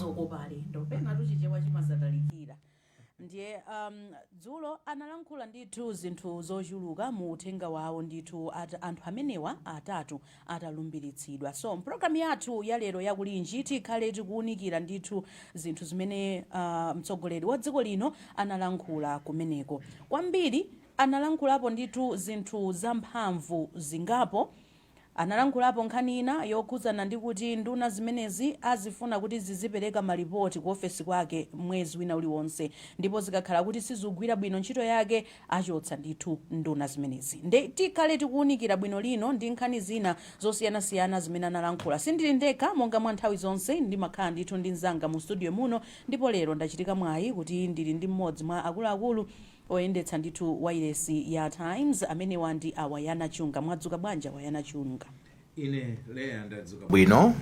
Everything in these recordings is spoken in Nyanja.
zokopa alendo penatu chichewa chimazatalikira ndiye um, dzulo analankhula ndithu zinthu zochuluka mu uthenga wawo ndithu at, anthu amenewa atatu atalumbiritsidwa so mpulogalamu yathu ya lero ya Kulinji tikhale tikuwunikira ndithu zinthu zimene uh, mtsogoleri wa dziko lino analankhula kumeneko kwambiri analankhulapo ndithu zinthu zamphamvu zingapo analankhulapo nkhani ina yokhudzana ndi kuti nduna zimenezi azifuna kuti zizipereka malipoti ku ofesi kwake mwezi wina uliwonse ndipo zikakhala kuti sizigwira bwino ntchito yake achotsa ndithu nduna zimenezi nde tikhale tikuunikira bwino lino ndi nkhani zina zosiyanasiyana zimene analankhula sindili ndekha monga mwa nthawi zonse ndimakhala ndithu ndi mzanga mu studio muno ndipo lero ndachitika mwayi kuti ndili ndi mmodzi mwa akuluakulu Oyendetsa ndithu wailesi ya Times amenewa ndi a Wanangwa Chunga. Mwadzuka bwanji a Wanangwa Chunga? Ine Leah ndadzuka bwino.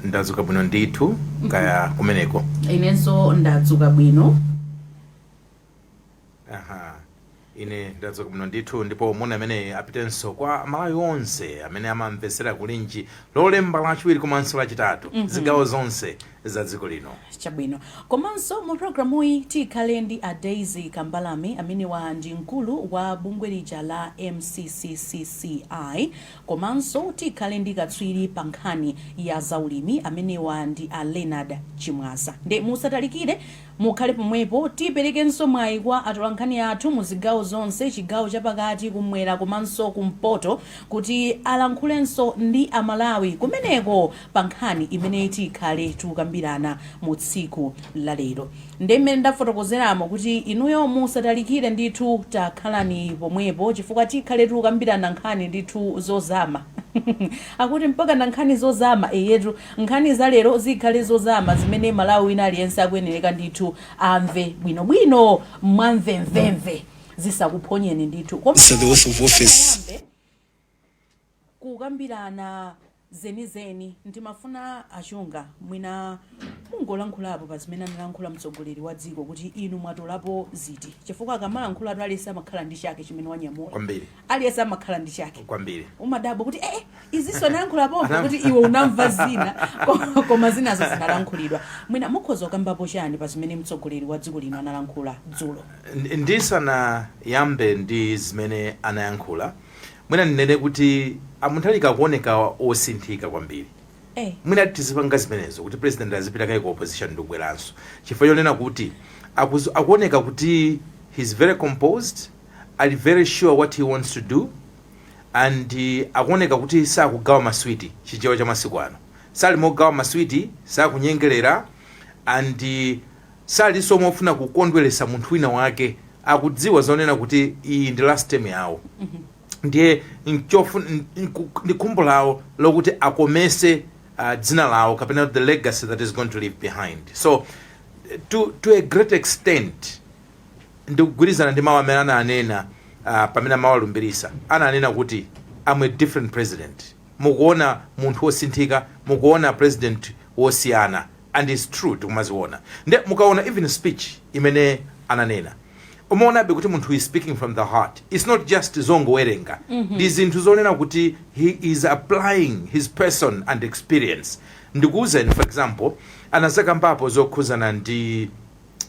Ndadzuka bwino ndithu kaya kumeneko? Inenso ndadzuka bwino. Aha. Ine ndadzuka bwino ndithu ndipo moni ameneyi apitenso kwa Amalawi onse amene amamvetsera Kulinji Lolemba, Lachiwiri komanso Lachitatu zigawo zonse za dziko lino. Chabwino. Komanso mu programuyi tikhale ndi a Daisy Kambalame amenewa ndi mkulu wa bungwe lija la MCCCI komanso tikhale ndi katswiri pa nkhani ya zaulimi amenewa ndi a Leonard Chimwaza nde musatalikire. Mukhale pomwepo, tiperekenso mwayi kwa atolankhani athu mu zigawo zonse, chigawo chapakati, kumwera komanso kumpoto kuti alankhulenso ndi a Malawi kumeneko pa nkhani imene tikhale tukambirana mu tsiku la lero. Nde mmene ndafotokozeramo kuti inuyo musatalikire ndithu takhalani pomwepo chifukwa tikhale tukambirana nkhani ndithu zozama. Akuti mpakana nkhani zozama, eyetu. Nkhani za lero zikhale zozama zimene Mmalawi wina aliyense akuyenereka ndithu amve bwinobwino mwamvemvemve zisakuphonyeni ndithu So The Oath of Office. tisanayambe kukambirana zenizeni ndimafuna a Chunga mwina mungolankhulapo pa zimene analankhula mtsogoleri wa dziko kuti inu mwatolapo ziti chifukwa akamalankhulatu aliyense amakhala ndi chake chimene wanyamula Kwambiri. aliyense amakhala ndi chake kwambiri umadabwa kuti ee izinso anayankhula pompo kuti iwe unamva zina ko- koma zinazo zinalankhulidwa mwina mukhoza kukambapo chani pa zimene mtsogoleri wa dziko lino analankhula dzulo Ndi- ndisanayambe ndi zimene anayankhula mwina ndinene kuti a Mutharika akuoneka osinthika kwambiri Eh, mwina tizipanga zimenezo kuti president azipita kaye ku opposition ndi kubweranso chifukwa chonena kuti akuzu- akuoneka kuti he's very composed Ali very sure what he wants to do and akuoneka kuti sakugawa ma sweet, chichewa cha masiku ano. Sali mogawa ma sweet, sakunyengelera and salinso mofuna kukondwelesa munthu wina wake. Akudziwa zonena kuti iyi ndi last term yawo ndiye ndi khumbo lawo lokuti akomese uh, dzina lawo kapena the legacy that he's going to leave behind so to, to a great extent Ndikugwirizana ndi mau amene ananena pamene amawalumbilisa ananena kuti I'm a different president mukuona munthu wosinthika mukuona president wosiyana and it's true tikumaziona nde mukaona even speech imene ananena umaonabe kuti munthu is speaking from the heart it's not just zongowerenga ndi zinthu zonena kuti he is applying his person and experience ndikuuzeni for example anazakambapo zokhuzana ndi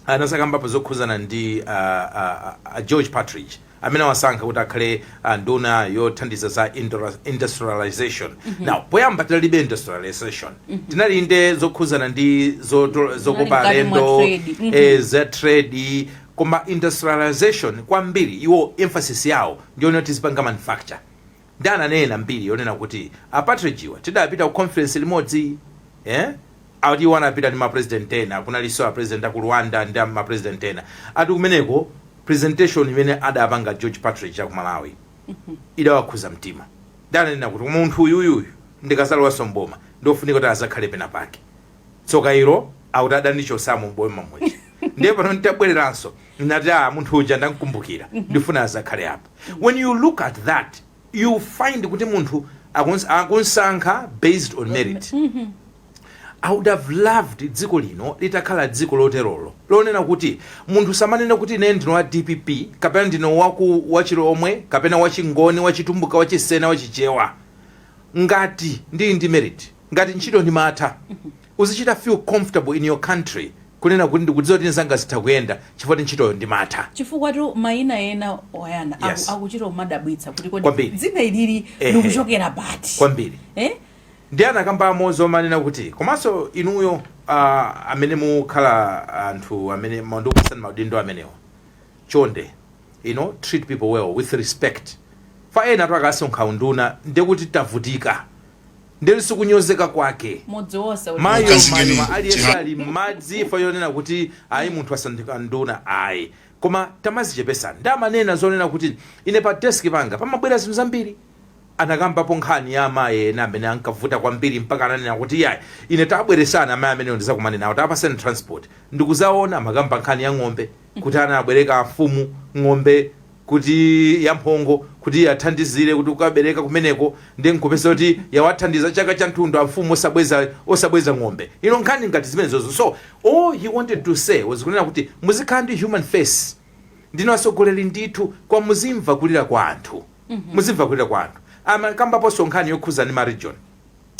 anazakambapo zokhuzana ndi uh, uh, uh, George Partridge amene wasankha kuti akhale uh, nduna yothandiza za indura- industrialization mm -hmm. now poyamba tinalibe industrialization mm -hmm. tinali nde zokhuzana ndi zoto- zokopa alendo trade. Mhm. eh, za trade koma industrialization kwambiri iwo emphasis yawo ndi yonoti tizipanga manufacture Nde ananena mbiri yonena kuti a Partridge-wa tidapita ku conference limodzi eh ati iwo anapita ndi ma president ena kunalinso a president aku Rwanda ndi ma president ena ati kumeneko presentation imene adapanga George Partridge aku Malawi idawakhuza mtima nde ananena kuti koma munthu uyuyu uyu ndikazalowanso m'boma ndi ofunika kuti azakhale penapake tsoka ilo akuti adandichosamo mboma muja ndiye pano nditabwereranso ndinati ah munthu uja ndamkumbukira ndifuna azakhale apa when you look at that you find kuti munthu akuns- akunsankha based on merit I would have loved dziko lino litakhala dziko loterolo lonena kuti munthu samanena kuti ine ndine wa dpp kapena ndine waku wachilomwe kapena wachingoni wachitumbuka wachisena wachichewa ngati ndili ndi merit Ngati ntchito ndimatha, uzichita feel comfortable in your country kunena kuti ndikudziwa kuti zanga zitha kuyenda chifukwa kuti ntchitoyo ndimatha. Chifukwatu mayina ena oyana aku Yes. akuchita kumadabwitsa kuti kodi Kwambiri. dzina ilili Ehe. likuchokera pati? Kwambiri. Eh? Ndiye anakamba mo zomanena kuti komanso inuyo uh, amene mukhala anthu amene ma- ndikupatsani maudindo amenewa chonde you know, treat people well with respect fa ena tu akasankhidwa unduna ndiye kuti tavutika ndiyeno sikunyozeka kwake mayo, aliyense ali m'madzi ifa yonena kuti ayi munthu asanduka nduna ayi koma tamazichepesani nde amanena zonena kuti ine pa desk panga pamabwera zinthu zambiri anakambapo nkhani ya amayi ena amene ankavuta kwambiri mpaka ananena kuti yayi ine tabweresani amayi amenewo ndizakumane nawo tapaseni transport ndikuzaona amakamba nkhani ya ng'ombe kuti anabwereka amfumu ng'ombe kuti yamphongo kuti yathandizire kuti kukabereka kumeneko ndi nkupeza kuti yawathandiza chaka chathunthu amfumu osabweza osabweza ng'ombe ino nkhani ngati zimenezozo so all he wanted to say was kunena kuti muzikhala ndi human face ndinu atsogoleri ndithu kwa muzimva kulira kwa anthu muzimva kulira kwa anthu amakambaponso nkhani yokhuza ndi ma region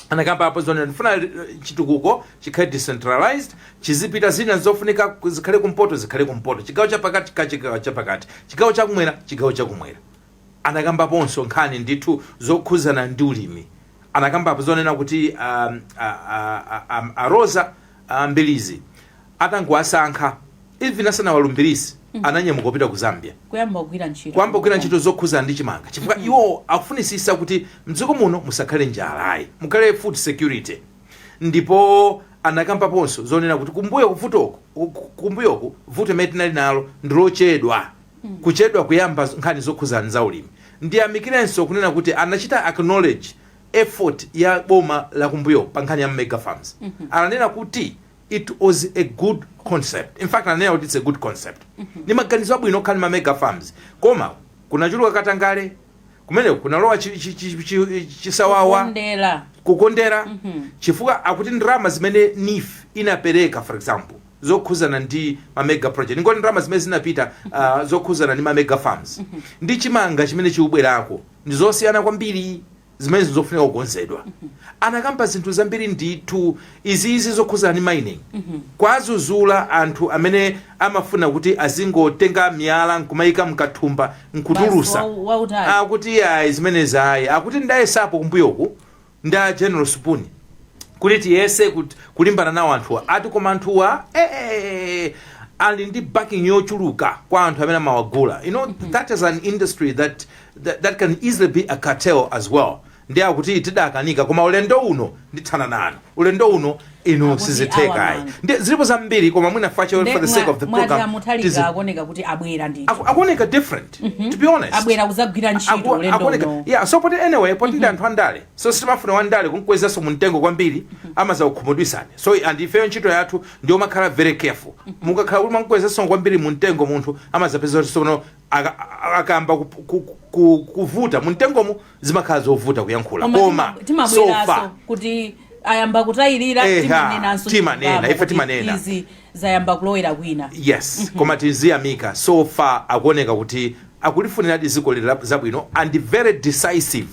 anakambapo zonena ndifuna eh, chitukuko chikhale decentralized chizipita zina zofunika ku- zikhale kumpoto zikhale kumpoto chigawo chapakati ka chigawo chapakati chigawo chakumwera chigawo chakumwera anakambaponso nkhani ndithu zokhuzana ndi ulimi anakambapo zonena kuti um, a, a, a, a, a Roza uh, Mbilizi atangowasankha even asanawalumbiritse ananyamuka kupita ku Zambia kuyamba kugwira ntchito kuyamba kugwira ntchito zokhuzana ndi chimanga chifukwa mm -hmm. iwo akufunitsitsa kuti mdziko muno musakhale njala ayi mukhale food security ndipo anakambaponso zonena kuti kumbuyo kuvutoku kumbuyoku vuto imene tinali nalo ndi lochedwa mm. kuchedwa kuyamba nkhani zokhuzana za ulimi ndiyamikirenso kunena kuti anachita acknowledge effort ya boma la kumbuyo pa nkhani ya mega farms mm -hmm. ananena kuti It was a good concept. In fact, ananena kuti it's a good concept. Ni maganizo abwino okhala ndi ma mega farms. Koma kunachuluka katangale, kumene kunalowa chi- chi- chi- chi- chisawawa, kukondera kukondera chifukwa akuti ndalama zimene NEEF inapereka for example zokhuzana ndi ma mega project ndikuti ndalama zimene zinapita uh, zokhuzana ndi ma mega farms ndi chimanga chimene chikubwerako ndi zosiyana kwambiri zimenezi ndizofunika kukonzedwa anakamba zinthu zambiri ndithu iziizi zokhuzana ndi mining kuwazuzula anthu amene amafuna kuti azingotenga miyala nkumayika mkathumba nkutulusa Basi, wa- wautali. akuti ayi zimenezi ayi akuti ndayesapo kumbuyoku ndi General Supuni kuti tiyese kut- kulimbana nawo anthuwa ati koma anthuwa eh, eh, eh, ali ndi backing yochuluka kwa anthu amene amawagula you know that is an industry that That that can easily be a cartel as well nde akuti tidakanika koma ulendo uno ndithana nanu ulendo uno inu Akuti sizitheka awa ayi man. nde zilipo zambiri koma mwina fache for the sake of the mwati program tizi- amuthalika akuoneka kuti abwera ndithu aku- akuoneka different to be honest abwera kuzagwira ntchito Aku- ulendo akuoneka- uno yeah so poti anyway poti ndi anthu andale so sitimafuna wandale kumkwezaso mumtengo kwambiri amazakukhumudwitsani so and ifeyo ntchito yathu ndi yomakhala very careful mukakhala kuti mwamkwezaso kwambiri mumtengo munthu amazapeza kuti sono aka akayamba ku, ku, ku, kuvuta mumtengomo zimakhala zovuta kuyankhula koma koma tima- timabweranso so far kuti ayamba kutayirira Eha, timanenanso timanena, chilungamo ife kuti timanena. izi zayamba kulowera kwina yes koma tiziyamika so far akuoneka kuti akulifunira dziko lila- zabwino and very decisive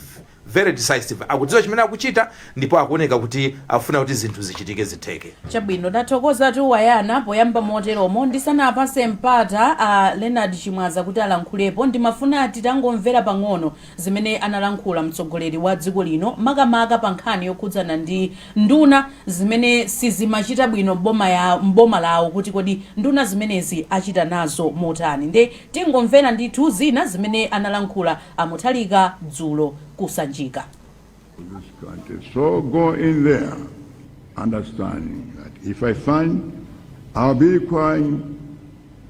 Very decisive. Akudziwa chimene akuchita ndipo akuoneka kuti akufuna kuti zinthu zichitike zitheke. Chabwino, tathokoza Tuwayana poyamba moteromo. Ndisanapase mpata a Leonard Chimwaza kuti alankhulepo, ndimafuna titangomvera pang'ono zimene analankhula mtsogoleri wa dziko lino makamaka pa nkhani yokhudzana ndi nduna zimene sizimachita bwino m'boma ya m'boma lawo kuti kodi nduna zimenezi achita nazo motani. Nde Tingomvera ndithu zina zimene analankhula a Mutharika dzulo ku Sanjika. to this country. So go in there, understanding that if I find, I'll be requiring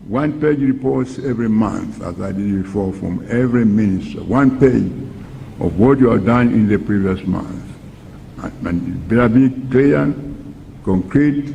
one page reports every month, as I did before, from every minister, one page of what you have done in the previous month. And, and it better be clear, concrete,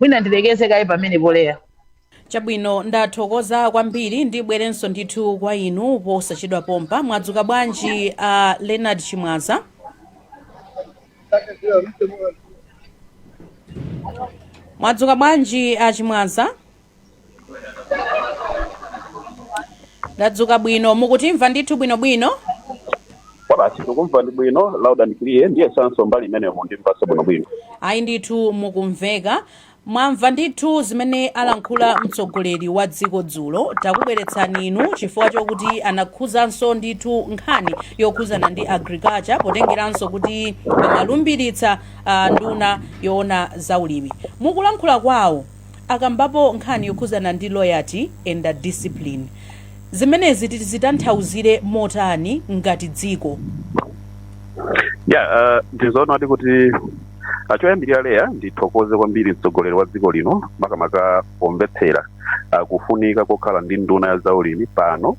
mwina ndilekeze kaye pamenepo Leya Chabwino, ndathokoza kwambiri. Ndibwerenso ndithu kwa inu posachedwa pompa. Mwadzuka bwanji, a Leonard Chimwaza? Mwadzuka bwanji, a Chimwaza? Ndadzuka bwino. Mukutimva ndithu bwinobwino? Kwabasi, tikumvanadi bwino loud and clear ndiyesanso mbali imeneyo mukundimvanso bwinobwino ayi ndithu mukumveka Mwamva ndithu zimene alankhula mtsogoleri wa dziko dzulo, takubweretsani inu chifukwa chokuti anakhuzanso ndithu nkhani yokhuzana ndi Agriculture potengeranso kuti amalumbiritsa nduna yoona za ulimi. Mukulankhula kwawo akambapo nkhani yokhuzana ndi loyalty and discipline. Zimenezi tizitanthauzire motani ngati dziko? Yeah, uh, ndizoonadi kuti Ah, choyambirira Leya ndithokoze kwambiri mtsogoleri wa dziko lino makamaka pomvetsera ah, kufunika kokhala ndi nduna ya zaulimi pano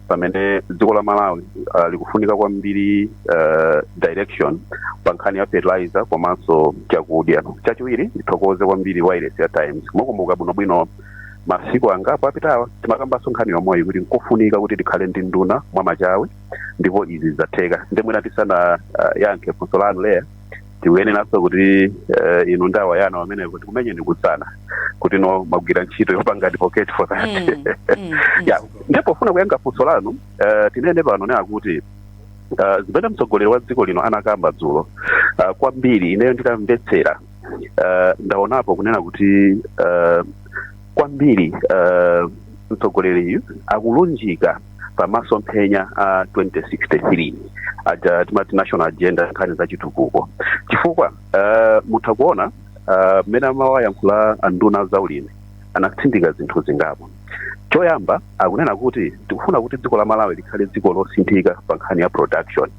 pamene dziko la Malawi ah, likufunika kwambiri ah, direction pa nkhani ya fertilizer komanso chakudya chachiwiri ndithokoze kwambiri wailesi ya Times mukumbuka bwinobwino masiku angapo apitawa timakambanso nkhani yomweyi kuti nkofunika kuti tikhale ndi nduna mwamachawi ndipo izi zatheka nde mwina tisana ah, yankhe funso lanu Leya tikuyeneranso kuti eh, inu nda Wayana amene kuti kumenye ndikutsana kuti inu mwagwira ntchito yopanga advocate for that Mm, mm, mm. ya nde pofuna kuyankha funso lanu eh, tinene pano nena kuti eh, zimene mtsogoleri wa dziko lino anakamba dzulo eh, kwambiri ineyo nditamvetsera eh, ndaonapo kunena kuti eh, kwambiri eh, mtsogoleriyu akulunjika pa masomphenya a 2063 aja timati national agenda nkhani za chitukuko chifukwa uh, mutha kuona ah, mmene uh, amawayankhula anduna za ulimi anatsindika zinthu zingapo choyamba akunena kuti tikufuna kuti dziko la Malawi likhale dziko losinthika pa nkhani ya production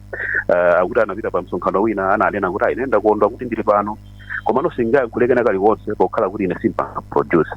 uh, akuti anapita pa msonkhano wina ananena kuti ayi ine ndakondwa kuti ndili pano komano sindingayankhule kena kalikonse pokhala kuti ine simpanga produce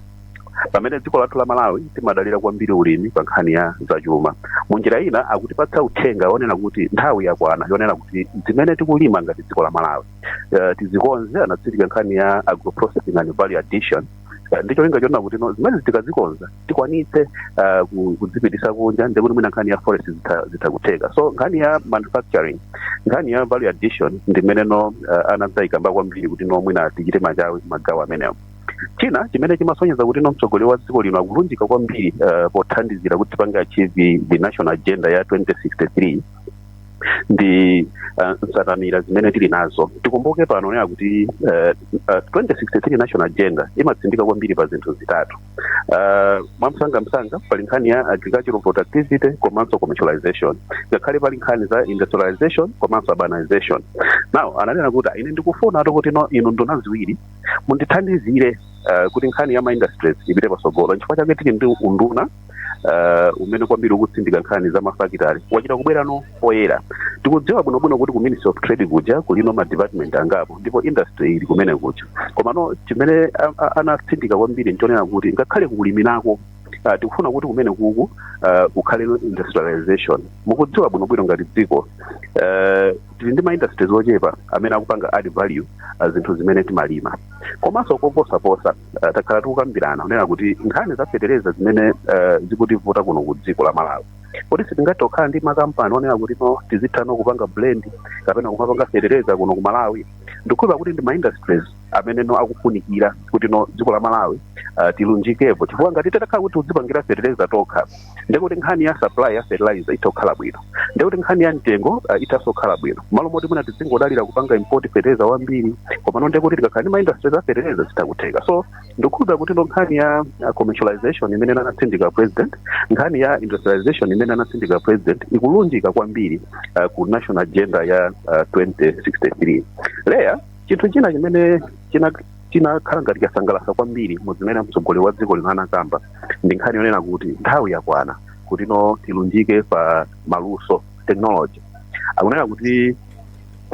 pamene dziko lathu la malawi timadalira kwambiri ulimi pa nkhani ya zachuma munjira ina akutipatsa uthenga wonena kuti nthawi yakwana yonena kuti zimene tikulima ngati dziko la malawi uh, tizikonze anatsindika nkhani ya agroprocessing and value addition Eh, ndi cholinga chonena kuti no zimene tikazikonza tikwanitse eh, ku- kudzipitisa kunja ndikuti mwina nkhani ya forex zitha- zitha kutheka so nkhani ya manufacturing nkhani ya value addition ndi imene no eh, anadzayikamba kwambiri kuti no mwina tichite machawi magawo amenewo china chimene chimasonyeza kuti no mtsogoleri wa dziko lino akulunjika kwambiri uh, pothandizira kuti tipange achieve the national agenda ya 2063 ndi uh, nsanamira zimene tili nazo tikumbuke pano kunena kuti uh, uh, 2063 national agenda imatsindika kwambiri pa zinthu zitatu uh, mwamsangamsanga pali nkhani ya agricultural productivity komanso commercialization ngakhale pali nkhani za industrialization komanso urbanization now ananena kuti ine ndikufuna kuti no inu nduna ziwiri mundithandizire eh, kuti nkhani ya ma industries ipite patsogolo nchifukwa chake tili ndi unduna eh, umene kwambiri ukutsindika nkhani za mafakitali wachita kubwerano poyera tikudziwa bwinobwino kuti ku ministry of trade kuja kulino ma department angapo ndipo industry ili kumene kuja komano chimene a- a- anatsindika kwambiri nchonena kuti ngakhale ku ulimiko Uh, tikufuna kuti kumene kuku uh, kukhale industrialization mukudziwa bwinobwino ngati dziko uh, tili ndi maindustries ochepa amene akupanga add value uh, zinthu zimene timalima komanso koposaposa uh, takhala tikukambirana kunena kuti nkhani za fetereza zimene uh, zikutivuta kuno ku dziko la malawi kodi sitingathe kukhala ndi makampani onena kuti no tizitha no kupanga blend kapena kumapanga fetereza kuno ku malawi ndikukhulupirira kuti ndi maindustries amene no akufunikira kuti no dziko la malawi uh, tilunjikepo chifukwa ngati titakhala kuti tidzipangira fetereza tokha ndekuti nkhani ya supply ya fertilizer itha kukhala bwino ndekuti nkhani ya mtengo uh, ithanso kukhala bwino malo moti mwina tidzingodalira kupanga import fertilizer wambiri komano ndekuti tikakhala ndi maindustry za fertilizer zitha kutheka so ndikukhulupira kuti no nkhani ya uh, commercialization imene anatsindika president nkhani ya industrialization imene anatsindika president ikulunjika kwambiri uh, ku national agenda ya uh, 2063 leya chinthu china chimene china chinakhala ngati chosangalatsa kwambiri mu zimene mtsogoleri wa dziko lino anakamba ndi nkhani yonena kuti nthawi yakwana kuti no tilunjike pa maluso technology akunena kuti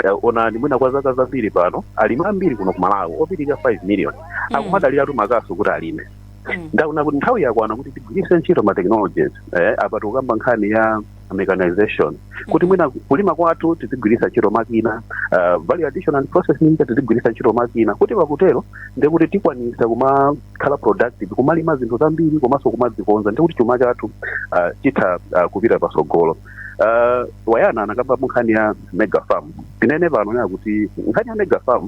eh, onani mwina kwa zaka zambiri pano alimi ambiri kuno ku malawi opitirira 5 million akumadaliratu makasu kuti alime Mm. nde akunena kuti nthawi yakwana kuti tigwiritse ntchito ma technologies eh, apa tikukamba nkhani ya a mechanization kuti mwina kulima kwathu tizigwiritsa ntchito makina uh, value addition and processing tizigwiritsa ntchito makina kuti pakutero ndekuti tikwanisa kumakhala productive kumalima zinthu zambiri komanso kumazikonza ndekuti chuma chathu uh, chitha uh, kupita patsogolo uh, wayana anakamba nkhani ya mega farm tinene pano kunena kuti nkhani ya mega farm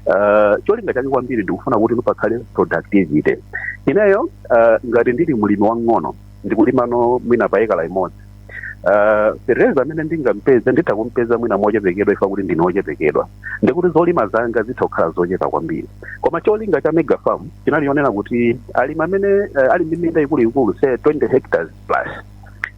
uh, cholinga chake kwambiri ndikufuna kuti pakhale productivity ineyo uh, ngati ndili mlimi wang'ono ndikulimano mwina pa ekala imodzi Uh, fertilizer amene ndingampeze nditha kumpeza mwina mochepekedwa ifa kuti ndine ochepekedwa ndikuti zolima zanga zitha kukhala zochepa kwambiri koma cholinga cha mega farm chinali chonena kuti alimi amene uh, ali ndi minda ikuluikulu say 20 hectares plus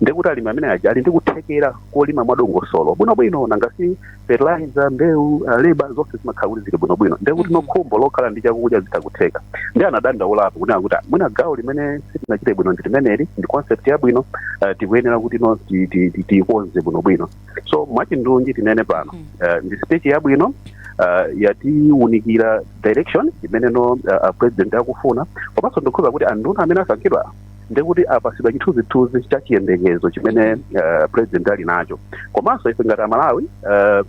ndikuti alimi amene aja ali ndi kuthekera kolima mwadongosolo bwinobwino nangasi fertilizer mbewu uh, labor zonse zimakhala kuti zili bwinobwino ndiye kuti no khumbo lokhala ndi chakudya zitakutheka ndi anadandaulapo kunena kuti "Ah, mwina gawo limene sitinachite bwino ndi limeneli ndi concept yabwino uh, tikuyenera kuti no ti- ti- ti- tiyikonze bwinobwino so mwachindunji tinene pano uh, ndi speech yabwino uh, yatiwunikira direction imene no uh, uh, president akufuna komanso ndikhulupira kuti anduna amene asankhidwa ndekuti apasidwa chithunzithunzi cha chiyembekezo chimene uh, president ali nacho komanso ife ngati amalawi uh,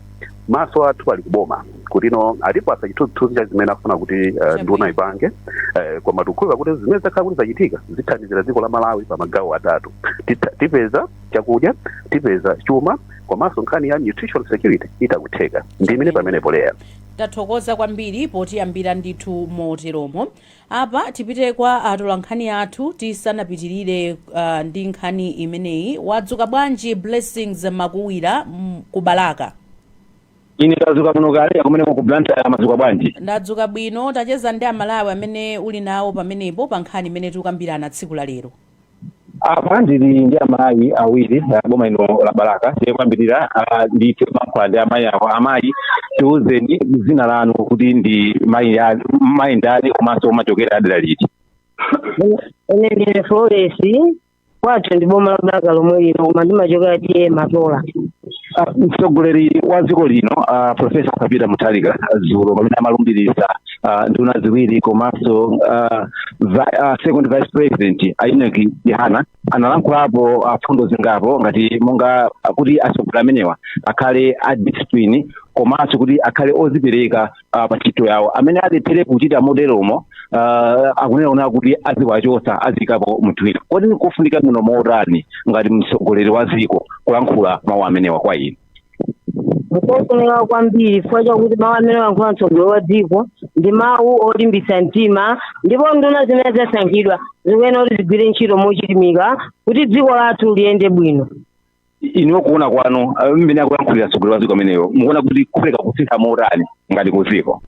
maso athu ali kuboma kuti no atipasa chithunzithunzi cha zimene afuna kuti uh, nduna ipange uh, koma tikukhulupirira kuti zimene zakhala kuti zachitika zithandizira dziko la malawi pa magawo atatu Titha- tipeza chakudya tipeza chuma komanso nkhani ya nutritional security itakutheka ndiime pamenepo leya tathokoza kwambiri potiyambira ndithu moteromo Apa tipite kwa atolankhani athu tisanapitilire ndi nkhani imeneyi. Wadzuka bwanji Blessings Makuwira ku Balaka? Ine ndadzuka bwino kaya kumeneko ku Blantyre mwadzuka bwanji? Ndadzuka bwino. Tacheza ndi a Malawi amene uli nawo pamenepo pa nkhani imene tikukambirana tsiku la lero. apa ndili ndi amayi awiri ah, boma lino la balaka tiyambirira ah, ndi kulankhula ndi amayi awo amayi tiuzeni dzina lanu kuti ndi mayi a- mayi ndani komanso umachokera adera liti ine ndine flores kwathu ndi boma la balaka lomwe lino koma ndimachokera T/A matola Ah, mtsogoleri wa dziko lino ah, profesa arthur peter mutharika dzulo pamene amalumbiritsa ah, nduna ziwiri komanso ah, vi- ah, second vice president a enock chihana analankhulapo ah, fundo zingapo ngati monga ah, kuti atsogoleri amenewa akhale a discipline komanso kuti akhale ozipereka ah, pa ntchito yawo amene alephere kuchita moteromo ah, akunena kunena kuti aziwachotsa aziyikapo munthu wina kodi nkofunika muno motani ngati mtsogoleri wa dziko kulankhula mawu amenewa kwa inu nkofunika kwambiri chifukwa chakuti mawu amene wayankhula mtsogoleri wa dziko ndi mawu olimbitsa mtima ndipo nduna zimene zasankhidwa zikuyenera kuti zigwire ntchito mochilimika kuti dziko lathu liyende bwino inuyo kuona kwanu ah, mmene akuyankhulira mtsogoleri wa dziko ameneyo mukuona kuti kupereka kusintha motani ngati ku dziko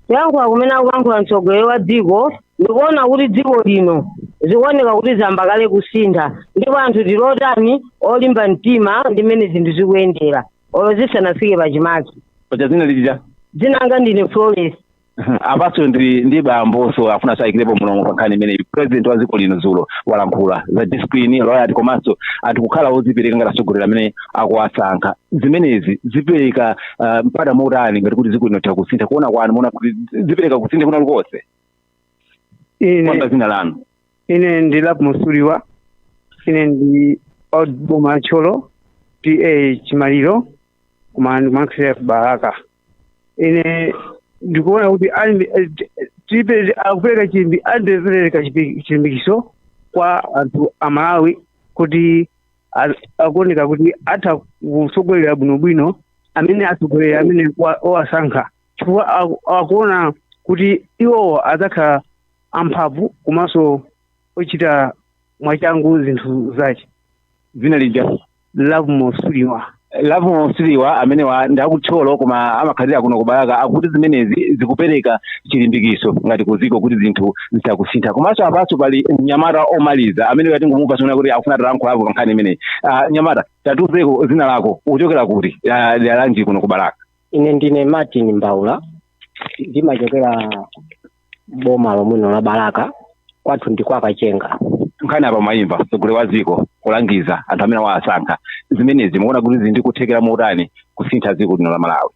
kuyankhula kumene akuyankhula mtsogoleri wa dziko Ndikuona kuti dziko lino zikuoneka kuti zayamba kale kusintha ndipo anthu tili otani olimba mtima ndi mmene zinthu zikuyendera olo zisanafike pachimake. paja dzina lija Dzina langa ndine Florence. apanso ndi ndi bambonso afuna atsirirepo mlomo pa nkhani imeneyi president wa dziko lino dzulo walankhula za discipline loyalty komanso anthu kukhala odzipereka ngati atsogoleri amene akuwasankha zimenezi zipereka ah, mpata motani ngati kuti dziko lino litha kusintha kuona kwanu muona kuti zipereka kusintha kwina kulikonse ine choyamba dzina lanu ine ndi love mosiwa ine ndi wa boma la thyolo TA chimaliro koma ndimakhalira ku balaka ine ndikuona kuti ali- eh, ti- tipe- akupereka chimbi andipereka chipi- chilimbikitso kwa anthu a malawi kuti a- akuoneka kuti atha kutsogolera bwinobwino amene atsogoleri amene wa- owasankha chifukwa aku- akuona kuti iwowo adzakhala amphamvu komanso ochita mwachangu zinthu zace dzina lija love mosiwa love mosiwa amenewa ndi aku thyolo koma amakhalira kuno ku balaka akuti zimenezi zikupereka chilimbikitso ngati kudziko kuti zinthu zitha kusintha komanso apanso pali mnyamata omaliza amene tangomupatsa moni kuti akufuna atalankhulapo pa nkhani imeneyi Ah, mnyamata tatiuzeko dzina lako uchokera kuti Ah, dera lanji kuno ku balaka ine ndine martin mbaula ndimachokera boma lomwe lino la balaka kwathu ndi kwa kachenga nkhani apa mwayimva mtsogoleri wa dziko kulangiza anthu amene wawasankha zimenezi mukuona kuti zili ndi kuthekera motani kusintha dziko lino la malawi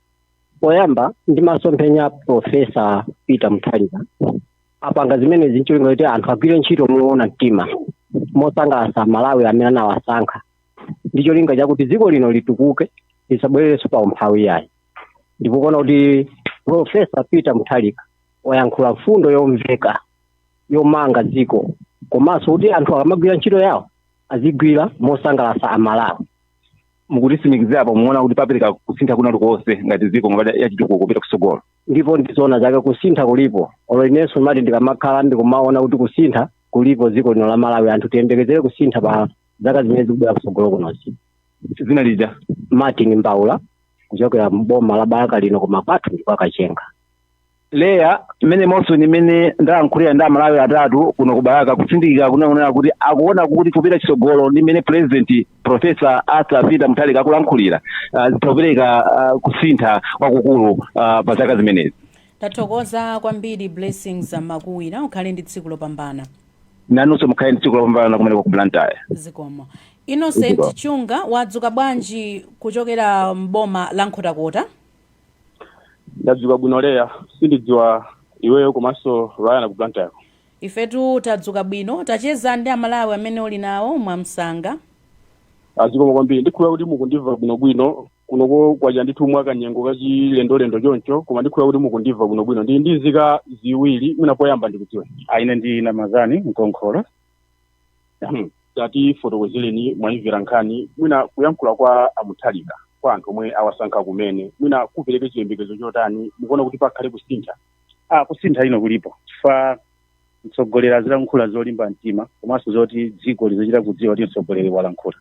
poyamba ndi masomphenya profesa peter mutharika apanga zimenezi ncholinga kuti anthu agwire ntchito moona mtima mosangalatsa amalawi amene anawasankha ndi cholinga chakuti dziko lino litukuke lisabwererenso pa umphawi yayi ndipo kuona kuti profesa peter mutharika wayankhula mfundo yomveka yomanga dziko komanso kuti anthu akamagwira ntchito yawo azigwira mosangalatsa amalawi mukutisimikizira apo muona kuti papereka kusintha kwina kulikonse ngati dziko ngati yachitukuko kupita kutsogolo ndipo ndizoona zake kusintha kulipo olo inenso mwati ndikamakhala ndikumaona kuti kusintha kulipo dziko lino la malawi anthu tiyembekezere kusintha pa zaka zimene zikubwera kutsogolo kunozi dzina lija martin mbaula kuchokera mboma la balaka lino koma kwathu ndi kwa kachenga leya mmene monso ni mmene ndalankhulira ndi amalawi atatu kuno ku balaka kutsindika kungoonetsa kuti akuona kuti kupita chitsogolo ndi mmene president profesa arthur peter mutharika akulankhulira ah, zitha kupereka ah, kusintha kwakukulu ah, pa zaka zimenezi tathokoza kwambiri blessings makuwira ukhale ndi tsiku lopambana nanunso mukhale ndi tsiku lopambana kumeneko ku blantyre zikomo innocent Zikomo. chunga wadzuka bwanji kuchokera mboma la nkhotakota ndadzuka bwino leya sindidziwa iweyo komanso ryan ku blantyre ifetu tadzuka bwino tacheza ndi amalawi amene uli nawo mwamsanga ah, zikomo kwambiri ndikhulupirira kuti mukundimva bwinobwino kunoko kwacha ndithu mwa kanyengo kachilendolendo choncho koma ndikhulupirira kuti mukundimva bwinobwino ndili ndi nzika ziwiri mwina poyamba ndikudziwe ah, ine ndi namazani mkonkhola Hmm. tatifotokozereni mwayimvera nkhani mwina kuyankhula kwa a mutharika kwa anthu omwe awasankha kumene mwina kupereke chiyembekezo chotani mukuona kuti pakhale kusintha ah kusintha inde kulipo chifukwa mtsogoleri azilankhula zolimba mtima komanso zoti dziko lizitha kudziwa kuti mtsogoleri walankhula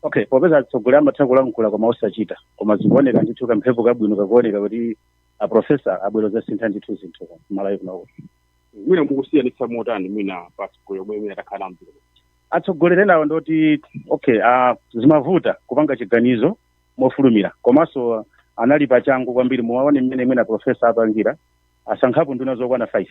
okay popeza atsogoleri amatha kulankhula koma osachita koma zikuoneka ndithu kamphepo kabwino kakuoneka kuti a profesa abwera kudzasintha ndithu zinthu malawi kuno okay mwina mukusiyanitsa motani mwina pasco yomwe imene atakhala mdziko atsogoleri enawo nzoti okay uh, zimavuta kupanga chiganizo mofulumira komanso anali pa changu kwambiri mukaona mmene mwina profesa apangira asankhapo nduna zokwana 5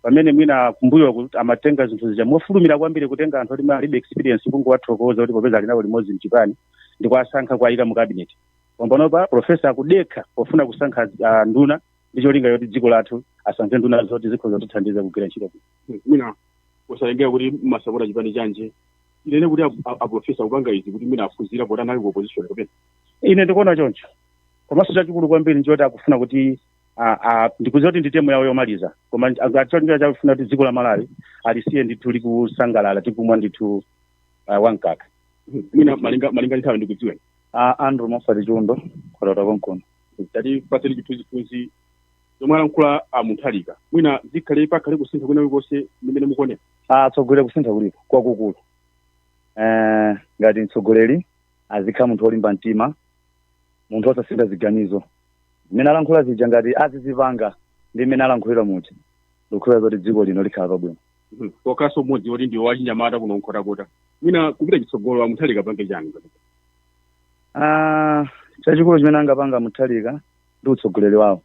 pamene mwina kumbuyoku amatenga zinthu zija mofulumira kwambiri kutenga anthu oti alibe experience kungowathokoza kuti popeza ali nawo limodzi mchipani ndi kuwasankha kuwayika mu cabinet pompanopa profesa akudekha pofuna kusankha ah, nduna ndi cholinga choti dziko lathu asankhe nduna zoti zikhoza kutithandiza kugwira ntchito bwino. mwina osatengera kuti amasapota chipani chanji tinene kuti ap- ap- aprofesa kupanga izi kuti mwina aphunzira poti anali ku opposition kapena ine ndikuona choncho komanso chachikulu kwambiri nchoti akufuna kuti a- a- ndikudziwa kuti ndi term yawo yomaliza koma ah, cholinga akufuna kuti dziko la malawi alisiye ndithu likusangalala tikumwa ndithu ah, wankaka mwina malinga malinga nthawi ndikudziweni Ah, andrew mofati chiundo nkhotakota konkuno tatipatseni chithunzithunzi zomwe alankhula a mutharika mwina zikhale pakhale kusintha kwina kulikonse mmene mukuonera kutsogoloku kusintha kulipo kwakukulu eh, ngati mtsogoleri azikhala munthu wolimba mtima munthu osasintha ziganizo zimene alankhula zija ngati azizipanga ndi mmene alankhulira muja ndikukhulupirira zoti dziko lino likhala pabwino Mhm. okay so mmodzi woti ndi wachinyamata kuno nkhotakota mwina kupita chitsogolo a Mutharika apange chani Ah, chachikulu chimene angapange Mutharika ndi utsogoleri wawo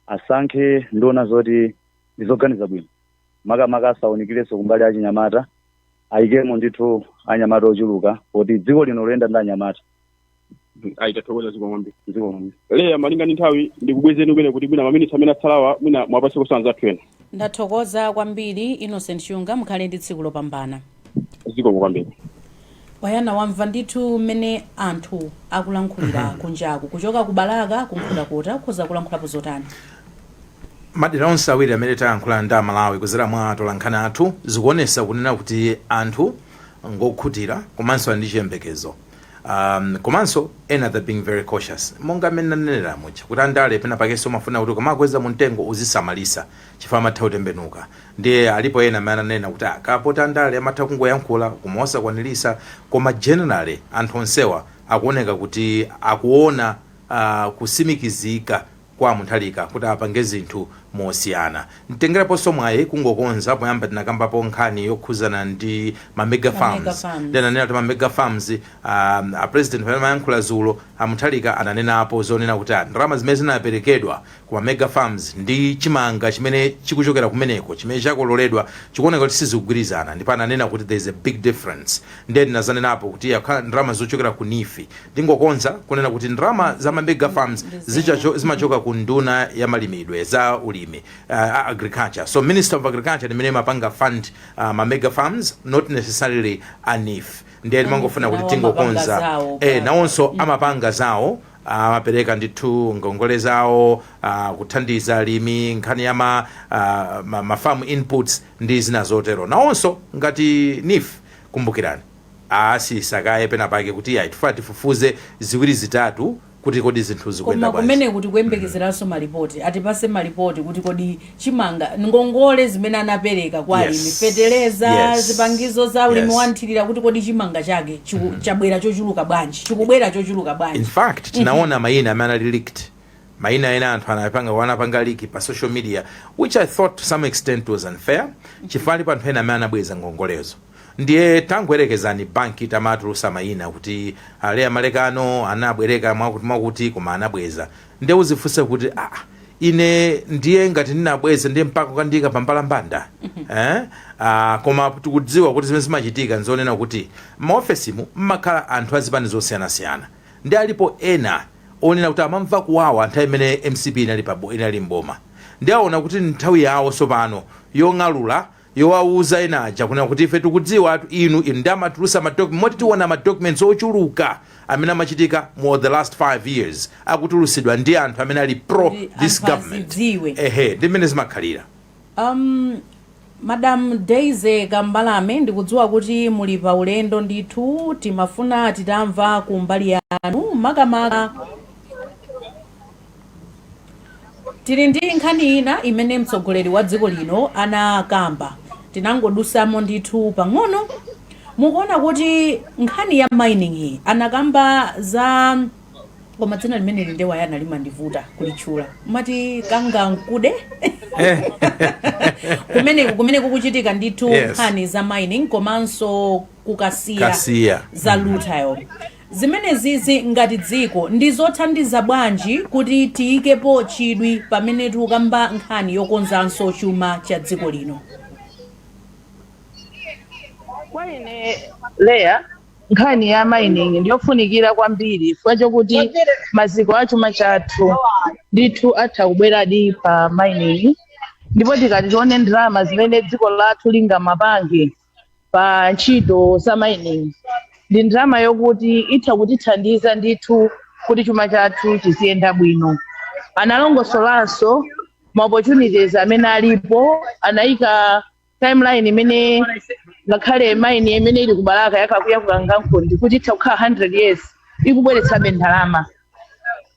asankhe nduna zoti ndizoganiza bwino makamaka asawunikirenso kumbali ya achinyamata ayikemo ndithu anyamata ochuluka kuti dziko lino liyende ndi anyamata ayi tathokoza zikomo kwambiri zikomo kwambiri leya malinga ndi nthawi ndikubwezeni kumene kuti mwina maminitsi amene atsalawa mwina muwapase kusanza athu ena ndathokoza kwambiri innocent chunga mukhale ndi tsiku lopambana zikomo kwambiri wayana wamva ndithu mmene anthu akulankhulira kunjaku kuchoka ku balaka ku nkhotakota ukhoza kulankhulapo zotani madera onse awiri amene tayankhula ndi amalawi kuzera mwa atolankhani athu zikuonesa kunena kuti anthu ngokhutira komanso ali ndi chiyembekezo Um, komanso ena they're being very cautious monga mmene nanenera muja kuti andale pena pakenso umafuna kuti akamakukweza mu mtengo uzisamalisa chifukwa amatha kutembenuka ndiye alipo ena amene ananena kuti "Ah, kapena poti andale amatha kungoyankhula koma osakwanirisa koma generally anthu onsewa akuoneka kuti akuona uh, kusimikizika kwa a Mutharika kuti apange zinthu mosiyana. Nditengeraponso mwayi kungokonza poyamba tinakambapo nkhani yokhuzana ndi ma mega Ma mega farms. farms. Ndinanena kuti ma mega farms a, a president pamene amayankhula zulo a Mutharika ananenapo zonena kuti a, ndalama zimene zinaperekedwa ku ma mega farms ndi chimanga chimene chikuchokera kumeneko chimene chakololedwa chikuoneka kuti sizikugwirizana ndipo ananena kuti there is a big difference. Ndiye ndinazanenapo kuti yakha ndalama zochokera ku NEEF ndingokonza kunena kuti ndalama za ma mega farms zija zimachoka ku unduna ya malimidwe za ulimi a agriculture so ministry of agriculture ndi imene imapanga fund ma mega farms not necessarily a NEEF ndiye ndimangofuna kuti tingokonza eh nawonso amapanga zawo amapereka ndithu ngongole zawo uh, kuthandiza alimi nkhani ya ma, uh, ma, ma farm inputs ndi zina zotero nawonso ngati NEEF Kumbukirani, anasiyisa kaye pena pake kuti iyayi tifuna tifufuze ziwiri zitatu kuti kodi zinthu zikuyenda Koma bwanji. kumeneko tikuyembekezeranso malipoti. Atipase malipoti kuti kodi chimanga, ngongole zimene anapereka kwa Yes. alimi, feteleza, Yes. zipangizo za ulimi Yes. wa mthirira kuti kodi chimanga chake chabwera chochuluka bwanji, chikubwera chochuluka In bwanji. fact, tinaona mayina amene anali leaked maina ena anthu anapanga wanapanga leak pa social media which i thought to some extent was unfair chifukwa alipo anthu ena amene anabweza ngongolezo ndiye tangoyerekezani banki itamatulusa maina kuti a leah malekano anabwereka mwakuti mwakuti koma anabweza ndiye uzifunse kuti ah, ine ndiye ngati ndinabweza ndiye mpaka kukandiyika pa mbalambanda eh? ah, koma tikudziwa kuti zimene zimachitika nzonena kuti m'maofesimu mmakhala anthu azipani zosiyanasiyana Nde alipo ena onena kuti amamva kuwawa nthawi imene mcp inali pa inali m'boma nde aona kuti ndnthawi yawo tsopano yong'alula yowawuza ena aja kunena kuti ife tikudziwatu inu inu nde amatulusa ma doc- moti tiona ma documents ochuluka amene amachitika in the last 5 years akutulusidwa ndi anthu amene ali pro Kuti this anthu government azidziwe. ehe ndi mmene zimakhalira. Um, Madam Daisy Kambalame, ndikudziwa kuti muli pa ulendo ndithu, timafuna titamva ku mbali yanu makamaka tili ndi nkhani ina imene mtsogoleri wa dziko lino anakamba tinangodusamo ndithu pang'ono mukuona kuti nkhani ya mining iyi anakamba za koma dzina limeneli Ndewa Yana limandivuta kulitchula amati Kangankunde kumeneko kumene kukuchitika ndithu Yes. nkhani za mining komanso ku Kasiya Kasiya. za rutile zimenezizi ngati dziko ndi zothandiza bwanji kuti tiyikepo chidwi pamene tikukamba nkhani yokonzanso chuma cha dziko lino kwa ine Leah nkhani ya mining ndiyofunikira kwambiri chifukwa chokuti maziko a chuma chathu ndithu atha kubweradi pa mining ndipo tikati tione ndalama zimene dziko lathu lingamapange pa ntchito za mining ndi ndalama yokuti itha kutithandiza ndithu kuti chuma chathu chiziyenda bwino analongosolanso ma opportunities amene alipo anayika timeline imene ngakhale mine imene ili ku Balaka ya ka kuja ku Kangankunde kuti itha kukhala 100 years ikubweretsabe ndalama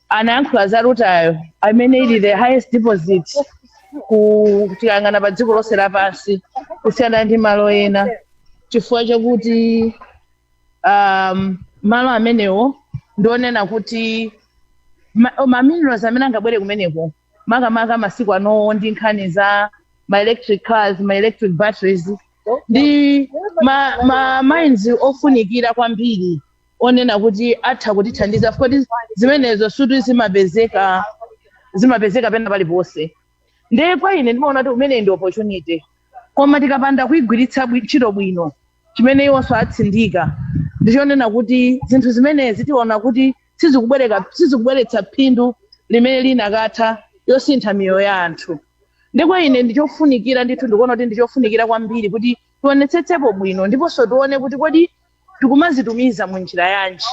anayankhula za rutile amene ili the highest deposit ku tikayang'ana pa dziko lonse lapansi kusiyana ndi malo ena chifukwa chakuti um, malo amenewa ndionena kuti ma- ma minerals amene angabwere kumeneko makamaka masiku anowa ndi nkhani za ma electric cars ma electric batteries ndi ma, ma mines ofunikira kwambiri onena kuti atha kutithandiza chifukwa choti zimenezo sikuti zimapezeka zimapezeka pena paliponse ndiye kwa ine ndimaona kuti imeneyi ndi opportunity koma tikapanda kuigwiritsa bwi- ntchito bwino chimene iwonso atsindika ndichonena kuti zinthu zimenezi tiona kuti sizikubwereka sizikubweretsa phindu limene likanatha kusintha miyoyo ya anthu nde kwa ine ndichofunikira ndithu ndikuona kuti ndichofunikira kwambiri kuti tionetsetsepo bwino ndiponso tione kuti kodi tikumazitumiza mu njira yanji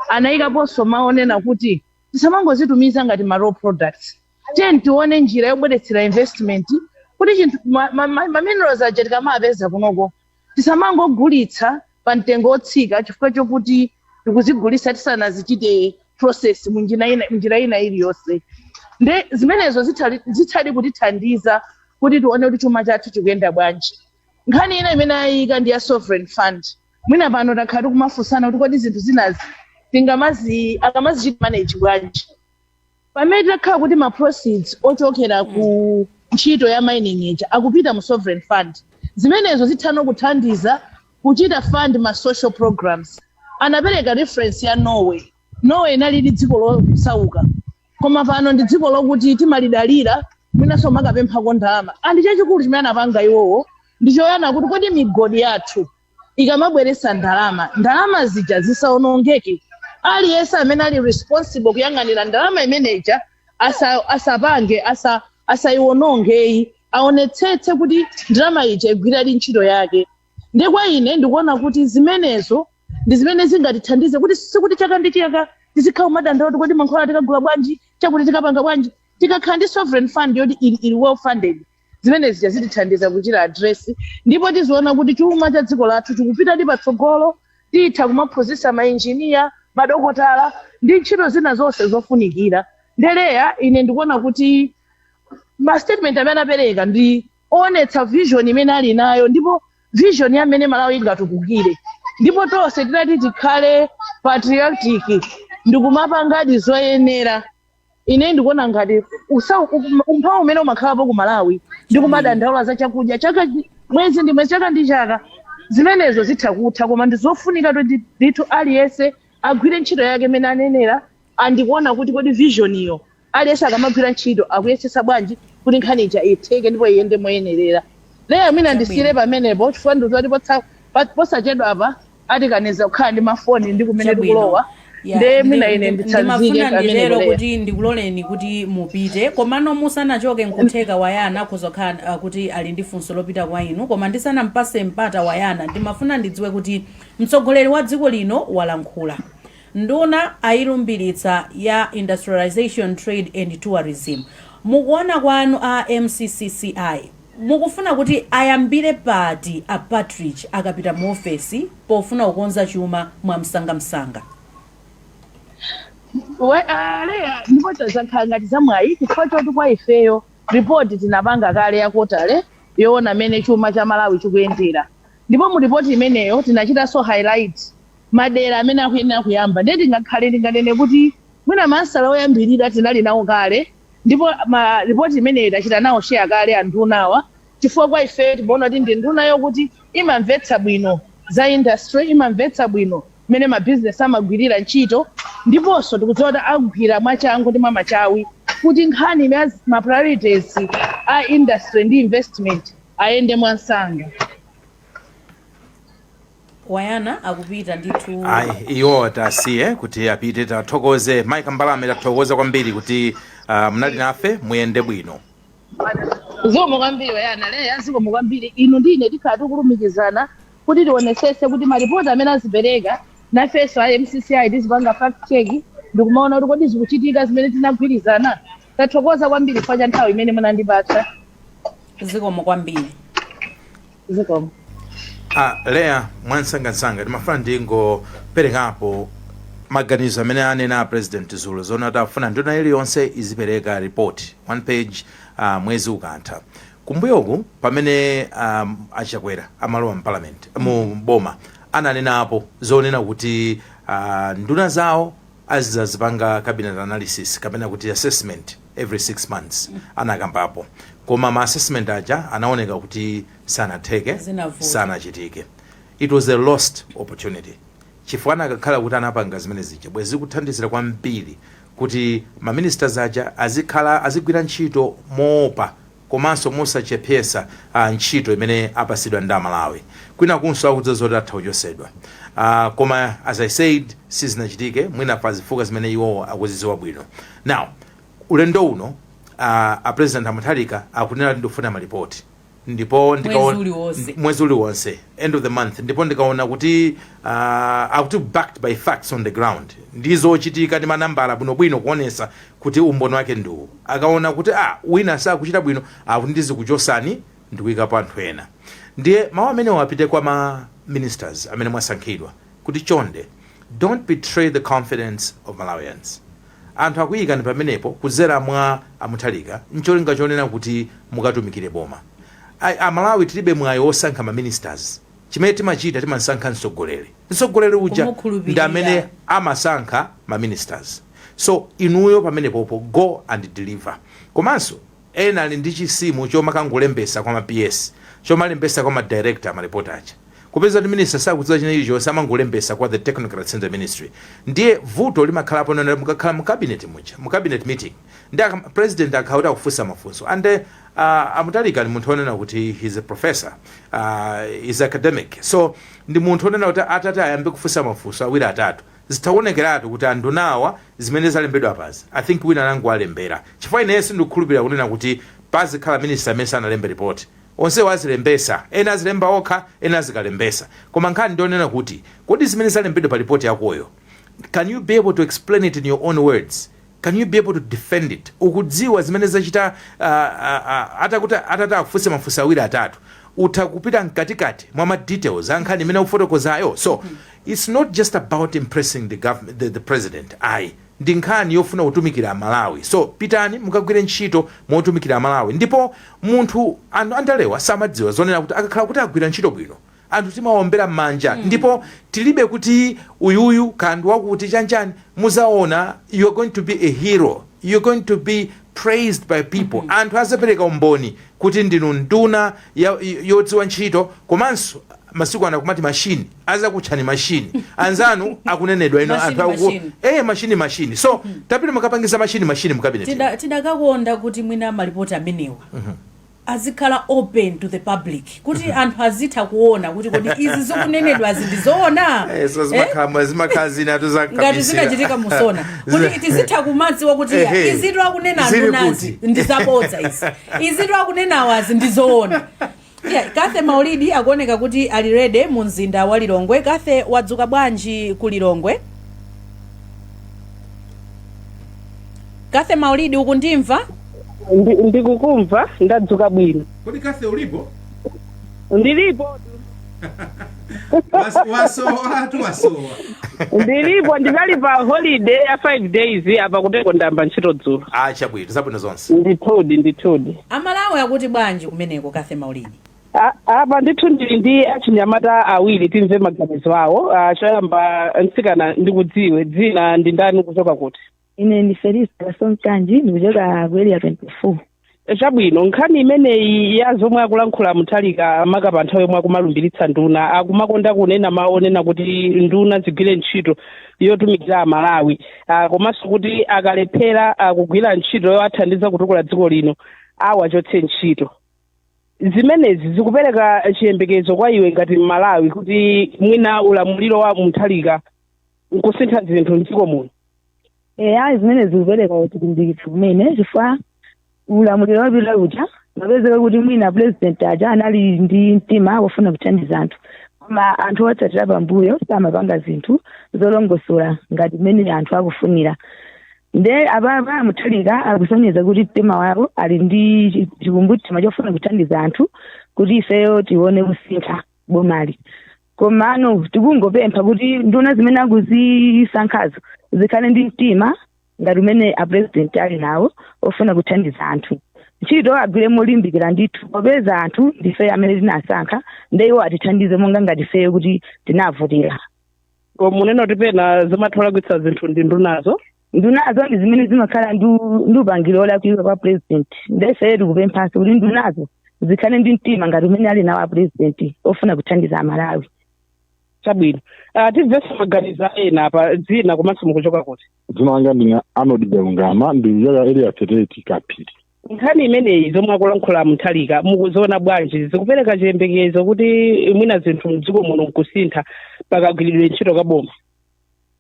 anayikaponso mawu onena kuti tisamangozitumiza ngati ma raw products tiyeni tione njira yobweretsera investment kuti chinthu ma, ma, ma, ma minerals aja tikamawapeza kunoko Tisamangogulitsa pa mtengo otsika chifukwa chokuti tikuzigulitsa tisanazichite process munjina ina, mnjira ina iliyonse. Nde zimenezo zithali, zithadi kutithandiza kuti tione kuti chuma chathu chikuyenda bwanji. Nkhani ina imene ayika ndi ya sovereign fund. Mwina pano takhala tikumafunsana kuti kodi zinthu zinazi tingamazi tingamazichite manage bwanji. pamene titakhala kuti ma proceeds ochokera ku ntchito ya mining ija akupita mu sovereign fund zimenezo zithano kuthandiza kuchita fund ma social programs anapereka reference ya norway norway inalidi dziko losauka koma pano ndi dziko lokuti timalidalira mwinanso makapemphako ndalama and chachikulu chimene anapanga iwowo ndi choyang'ana kuti kodi migodi yathu ikamabweretsa ndalama ndalama zija zisaonongeke aliyense amene ali responsible kuyang'anira ndalama imene ija asa, asapange asa, asaiwononge ayi aonetsetse kuti ndalama ija igwiradi ntchito yake ndiye kwa ine ndikuona kuti zimenezo ndi zimene zingatithandize kuti sikuti chaka ndi chaka tizikhala kumadandaula kuti kodi mankhwala tikagula bwanji chakuti tikapanga bwanji tikakhala ndi sovereign fund yoti ili, ili well funded zimene zija zitithandiza kuchita address ndipo tiziona kuti chuma cha dziko lathu chikupitadi patsogolo titha kumaphunzitsa mainjiniya madokotala ndi ntchito zina zonse zofunikira nde Leah ine ndikuona kuti ma statement amene anapereka ndi oonetsa vision imene ali nayo ndipo vision ya mmene malawi ingatukukire ndipo tonse titati tikhale patriotic ndikumapangadi zoyenera ine ndikuona ngati usa- um- umphawi umene umakhalapo ku malawi ndi kumadandaula za chakudya chaka mwezi ndi mwezi chaka ndi chaka zimenezo zitha kutha koma ndi zofunika kuti ndithu aliyense agwire ntchito yake imene anenera and kuona kuti kodi vision iyo aliyense akamagwira ntchito akuyesesa bwanji kuti nkhani ija itheke ndipo iyende moyenerera Leah mwina ndisiyire pamenepo chifukwa ndikuti posachedwa apa atikaniza kukhala ndi mafoni ndi kumene Chabwino. tikulowa Ya, nde ndi- mwina ine ndi- nditsanzike ndimafuna pamene nditero Leah kuti ndikuloleni kuti mupite komano musanachoke nkutheka wayana akhoza kukhala ah, kuti ali ndi funso lopita kwa inu koma ndisanampase mpata wayana ndimafuna ndidziwe kuti mtsogoleri wa dziko lino walankhula nduna ayilumbiritsa ya industrialization trade and tourism mukuona kwanu a mccci Mukufuna kuti ayambire pati a Patrick akapita mu ofesi pofuna kukonza chuma mwamsanga msanga? We- ah, Leah, ndipo izo zakhala ngati zamwayi chifukwa choti kwa ifeyo ripoti tinapanga kale ya quarterly yoona mmene chuma cha malawi chikuyendera ndipo mu ripoti imeneyo tinachitanso highlight madera amene akuyenera kuyamba. Ndiye tingakhale tinganene kuti mwina maansala oyambirira tinali nawo kale ndipo ma report imeneyi tachita nawo share kale andunawa chifukwa kwa ife timaona kuti ndi nduna yokuti imamvetsa bwino za industry, imamvetsa bwino mmene ma business amagwirira ntchito ndiponso tikudziwa kuti agwira mwachangu ndi mwamachawi kuti nkhani ya ma priorities a industry ndi investment ayende mwamsanga. Brian akupita ndithu. Ayi iwo tasiye kuti apite tathokoze Mike Mbalame tathokoza kwambiri kuti uh, munali nafe muyende bwino. Zikomo kwambiri Brian Leya, zikomo kwambiri inu ndi ine tikhala tikulumikizana kuti tionesese kuti malipoti amene azipereka nafenso a MCCI tizipanga fact check ndikumaona kuti kodi zikuchitika zimene tinagwirizana. Tathokoza kwambiri chifukwa cha nthawi imene munandipatsa. Zikomo kwambiri. zikomo Ah, leya mwamsangamsanga ndimafuna ndingoperekapo maganizo amene anena a president dzulo zonena kuti afuna nduna iliyonse izipereka report one page ah, mwezi ukamatha kumbuyoku pamene um, achakwera amalowa mparliament mu boma ananenapo zonena kuti ah, nduna zawo azizazipanga cabinet analysis kapena kuti assessment every 6 months anakambapo koma ma assessment aja anaoneka kuti sanatheke Zinavuta. sanachitike it was a lost opportunity chifukwa anakakhala kuti anapanga zimene zija bwezi zikuthandizira kwambiri kuti maministers aja azikhala azigwira ntchito moopa komanso mosachepesa ntchito imene apasidwa ndi amalawi kwinakunso akudziwa zoti atha kuchosedwa aah koma as i said sizinachitike mwina pa zifukwa zimene iwowo akuziziwa bwino now ulendo uno aah a president a mutharika akunena kuti ndifuna ma report ndipo mwezi ndikaona uliwonse mwezi uliwonse end of the month ndipo ndikaona kuti aah akuti backed by facts on the ground ndi zochitika ndi manambala bwinobwino kuonesa kuti umboni wake ndi uwu. Akaona kuti a, wina sakuchita bwino, akuti ndizikuchosani ndikuikapo anthu ena. Ndiye mau amenewa apite kwa ma ministers amene mwasankhidwa kuti chonde don't betray the confidence of Malawians. Anthu akuiikani pamenepo kudzera mwa a Mutharika ncholinga chonena kuti mukatumikire boma. A Malawi tilibe mwayi wosankha ma ministers. Chimene timachita timasankha mtsogoleri. Mtsogoleri uja ndi amene Kumukhulupirira. amasankha ma ministers. So inuyo pamenepopo go and deliver. Komanso ena ali ndi chisimo chomakangolembesa kwa ma PS. Chomalembesa kwa ma director ma report aja. Kupeza kuti minister sakudziwa china chilichonse amangolembesa kwa the technocrats in the ministry. Ndiye vuto limakhalapo lonena mukakhala mu cabinet muja, mu cabinet meeting. Nde president akakhala kuti akufunsa mafunso and uh, a Mutharika ndi munthu onena kuti he's a professor uh, he's academic so ndi munthu onena kuti atati ayambe kufunsa mafunso awiri atatu zitha kuonekeratu kuti andunawa zimene zalembedwa apazi i think wina anangowalembera chifukwa ineyo sindikukhulupirira kunena kuti pazikhala minister amene sanalembe report onsewo azilembesa ena azilemba okha ena azikalembesa koma nkhani ndionena kuti kodi zimene zalembedwa pa report yakoyo can you be able to explain it in your own words can you be able to defend it ukudziwa zimene zachita a a a atakuti atati akufunse mafunso awiri atatu utha kupita mkatikati mwa ma details a nkhani imene ukufotokozayo so its not just about impressing the government the, the president ayi ndi nkhani yofuna kutumikira Malawi so pitani mukagwire ntchito motumikira Malawi ndipo munthu anthu andalewa samadziwa zonena kuti akakhala kuti agwira ntchito bwino anthu timawaombera mmanja ndipo tilibe kuti uyu uyu kaya ndi wakuti chani chani muzaona you're going to be a hero you're going to be praised by people anthu azapereka umboni kuti ndinu nduna ya- yodziwa ntchito komanso masiku ano akumati mashini azakutchani mashini anzanu akunenedwa ino Mashini, anthu akuku- mashini. eh mashini mashini so tapitani mukapangidza mashini mashini mu cabinet Tida- tidakakonda kuti mwina malipoti amenewa azikhala open to the public kuti anthu azitha kuona kuti kodi izi zikunenedwazi ndi zoona Eh, so Eh? zimakhala zimakhala zina tu za ngati kabisira. zinachitika musona Zina- kuti tizitha kumadziwa kuti eya, Ehe. izitu akunena Zili andunazi kuti? ndi zabodza izi izitu akunenawazi ndi zoona Yeah, kathe maulidi akuoneka kuti ali ready mu mzinda wa lilongwe kathe wadzuka bwanji ku lilongwe kathe maulidi ukundimva Ndi- ndikukumva ndadzuka bwino kodi kathe ulipo ndilipo Was- wasowa atu wasowa ndilipo ndinali pa holiday ya 5 days apa kuteko ndayamba ntchito dzulo ah chabwino zabwino zonse ndithudi ndithudi amalawi akuti bwanji kumeneko kathe maulidi A- apa ndithu ndili ndi achinyamata awiri timve maganizo awo Ah, choyamba mtsikana ndikudziwe dzina ndi ndani kuchoka kuti ine ndi felista kasonkanji ndikuchoka ku area 24 chabwino nkhani imeneyi ya zomwe akulankhula Mutharika maka pa nthawi yomwe akumalumbiritsa nduna akumakonda kunena mawu onena kuti nduna zigwire ntchito yotumikira amalawi ah, komanso kuti akalephera ah, kugwira ntchito yowathandiza kutukula dziko lino awachotse ntchito zimenezi zikupereka chiyembekezo kwa iwe ngati mmalawi kuti mwina ulamuliro wa Mutharika nkusintha zinthu mdziko muno eya zimenezi zikupereka chilimbikitso kumene chifukwa ulamuliro wapita uja mapezeka kuti mwina president aja anali ndi mtima wofuna kuthandiza anthu koma anthu otsatira pambuyo samapanga zinthu zolongosola ngati mmene anthu akufunira nde apapa a Mutharika akusonyeza kuti mtima wawo ali ndi chi- chikumbumtima chofuna kuthandiza anthu kuti ifeyo tione kusintha boma ili komano tikungopempha kuti nduna zimene akuzisankhazo zikhale ndi mtima ngati umene apurezidenti ali nawo ofuna kuthandiza anthu ntchito agwire molimbikira ndithu popeza anthu ndife amene tinasankha nde iwo atithandize monga ngati ifeyo kuti tinavotera Ko munena kuti pena zimatha kulakwitsa zinthu ndi ndunazo ndunazo ndi zimene zimakhala ndi u- ndi upangiri olakwika kwa president nde ifeyo tikupemphanso kuti ndunazo zikhale ndi mtima ngati umene ali nawo a president ofuna kuthandiza amalawi chabwino Ah, timvenso maganizo a ena apa dzina komanso mukuchoka kuti dzina langa ndine Arnold galungama ndikuchokera area thirty kaphiri nkhani imeneyi zomwe akulankhula Mutharika mukuziona bwanji zikupereka chiyembekezo kuti mwina zinthu mdziko muno nkusintha pakagwiridwe ntchito ka boma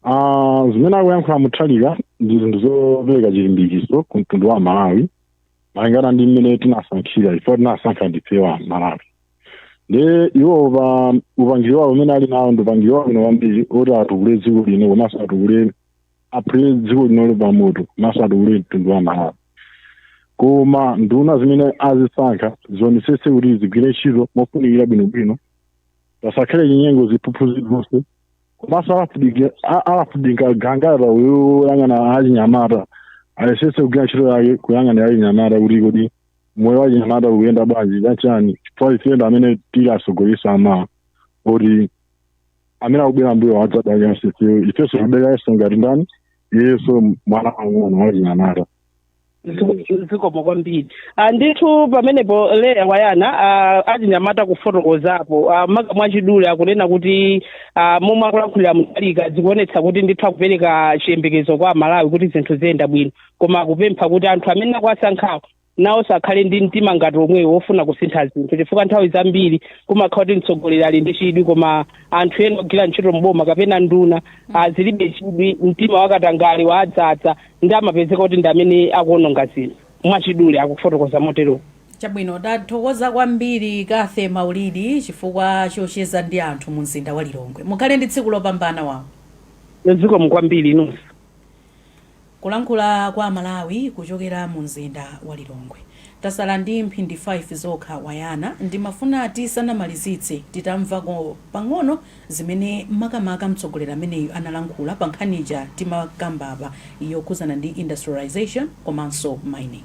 Ah, zimene akuyankhula Mutharika ndi zinthu zopereka chilimbikitso ku mtundu wa malawi malingana ndi mmene tinasankhira chifukwa tinasankha ndife amalawi ndiye iwo pa upangiri wawo umene ali nawo ndi upangiri wabwino kwambiri oti atukule dziko lino komanso atukule aphule dziko linolo pamoto komanso atukule mtundu wa malawi koma nduna zimene azisankha zionesese kuti zigwire ntchito mofunikira bwinobwino pasakhale chinyengo ziphuphu zilizonse komanso alafudike- a- alafudika gangata uyang'ana achinyamata ayesese kugwira ntchito yake kuyang'ana achinyamata kuti kodi moyo wa chinyamata ukuyenda bwanji chachani chifukwa ife ndi amene tili atsogoleri amawa oti amene akubwera mbuyo adzadalira ifeyo ifenso tikudalira iyeso ngati ndani iyeso mwana wang'ono wa chinyamata zikomo kwambiri Ah, ndithu pamenepo Leah Wayana ah, achinyamata kufotokozapo Ah, maka mwachidule akunena kuti ah, momwe akulankhula a Mutharika zikuonetsa kuti ndithu akupereka chiyembekezo kwa amalawi kuti zinthu ziyenda bwino koma akupempha kuti anthu amene akuwasankhawo nawonso akhale ndi mtima ngati omwewo wofuna kusintha zinthu chifukwa nthawi zambiri kumakhala kuti mtsogoleri ali ndi chidwi koma anthu ena ogwira ntchito mboma kapena nduna zilibe chidwi mtima wakatangale wawadzadza nde amapezeka kuti ndi amene akuononga zinthu mwachidule akufotokoza motero chabwino tathokoza kwambiri Cathy Maulidi chifukwa chocheza ndi anthu mu mzinda wa lilongwe mukhale ndi tsiku lopambana wawo zikomo kwambiri inunso Kulankhula kwa amalawi kuchokera mu mzinda wa Lilongwe. Tasala ndi mphindi 5 zokha Wayana, ndimafuna tisanamalizitse titamvako pang'ono zimene makamaka mtsogoleri ameneyu analankhula pa nkhani ija timakamba apa yokhuzana ndi industrialisation komanso mining.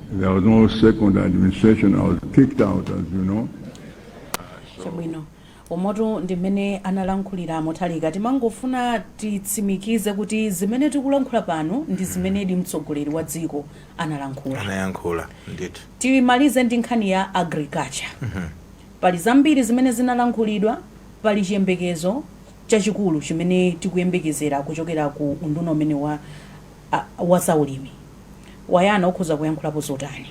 There was no second administration. I was kicked out, as you know. chabwino umo ndi mmene analankhulira Mutharika timangofuna titsimikize kuti zimene tikulankhula pano ndi zimenedi mtsogoleri wa dziko analankhula anayankhula ndithu timalize ndi nkhani ya agriculture pali zambiri zimene zinalankhulidwa pali chiyembekezo chachikulu chimene tikuyembekezera kuchokera ku unduna umene wa a, wazaulimi mwina mukhoza kuyankhulapo zotani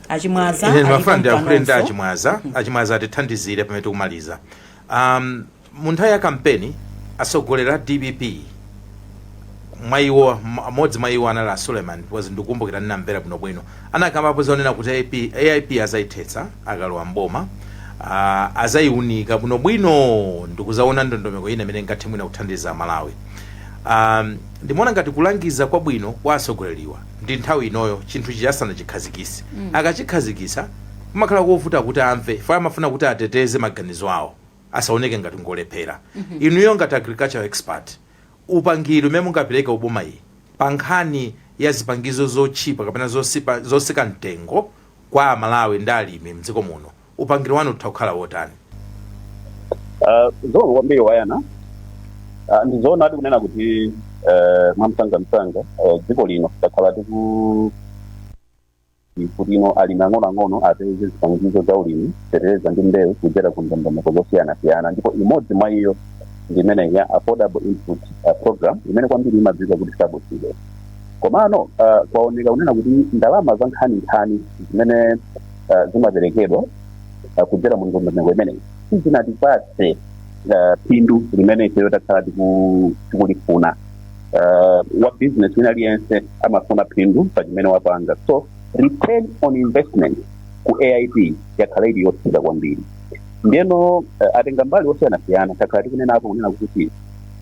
achimwaza Ine alipo ndimafuna ndiyankhule ndi mpanonso. achimwaza achimwaza atithandizire pamene tikumaliza um, mu nthawi ya kampeni atsogoleri a dpp mwa iwo m- amodzi mwa iwo anali a suleiman because ndikukumbukira ndinamvera bwinobwino anakambapo zonena kuti AP, aip azayithetsa akalowa mboma uh, azayiunika bwinobwino ndikuzaona ndondomeko ina imene ingathe mwina kuthandiza malawi um, Ndimaona ngati kulangiza kwabwino kwa atsogoleriwa ndi nthawi inoyo chinthu chija asanachikhazikise. Akachikhazikisa kumakhala kovuta kuti amve chifukwa amafuna kuti ateteze maganizo awo asaoneke ngati ngolephera. Inuyo ngati agricultural expert upangiri umene mungapeleke kuboma ili pa nkhani ya zipangizo zotchipa kapena zotsipa zotsika mtengo kwa amalawi ndi alimi mdziko muno upangiri wanu utha kukhala wotani Ah, zoona kwambiri wayana Ah, ndi zoona ati kunena kuti eh, mwamsangamsanga eh, dziko lino takhala tiku kuti ino alimi ang'onoang'ono apeze zipangizo za ulimi fertilizer ndi mbewu kudzera ku ndondomeko zosiyanasiyana ndipo imodzi mwa iyo ndi imene ya affordable input ah, program imene kwambiri imadziwika kuti subsidy komano ah, kwaoneka kunena kuti ndalama za nkhaninkhani zimene ah, zimaperekedwa ah, kudzera mu ndondomeko imeneyi sizinatipatse ah, phindu limene ifeyo takhala tiku- tikulifuna Ah, wa business wina aliyense amafuna phindu pa chimene wapanga so return on investment ku aip yakhala ili yotsika kwambiri ndeno eh, atenga mbali osiyanasiyana takhala tikunenapo kunena kuti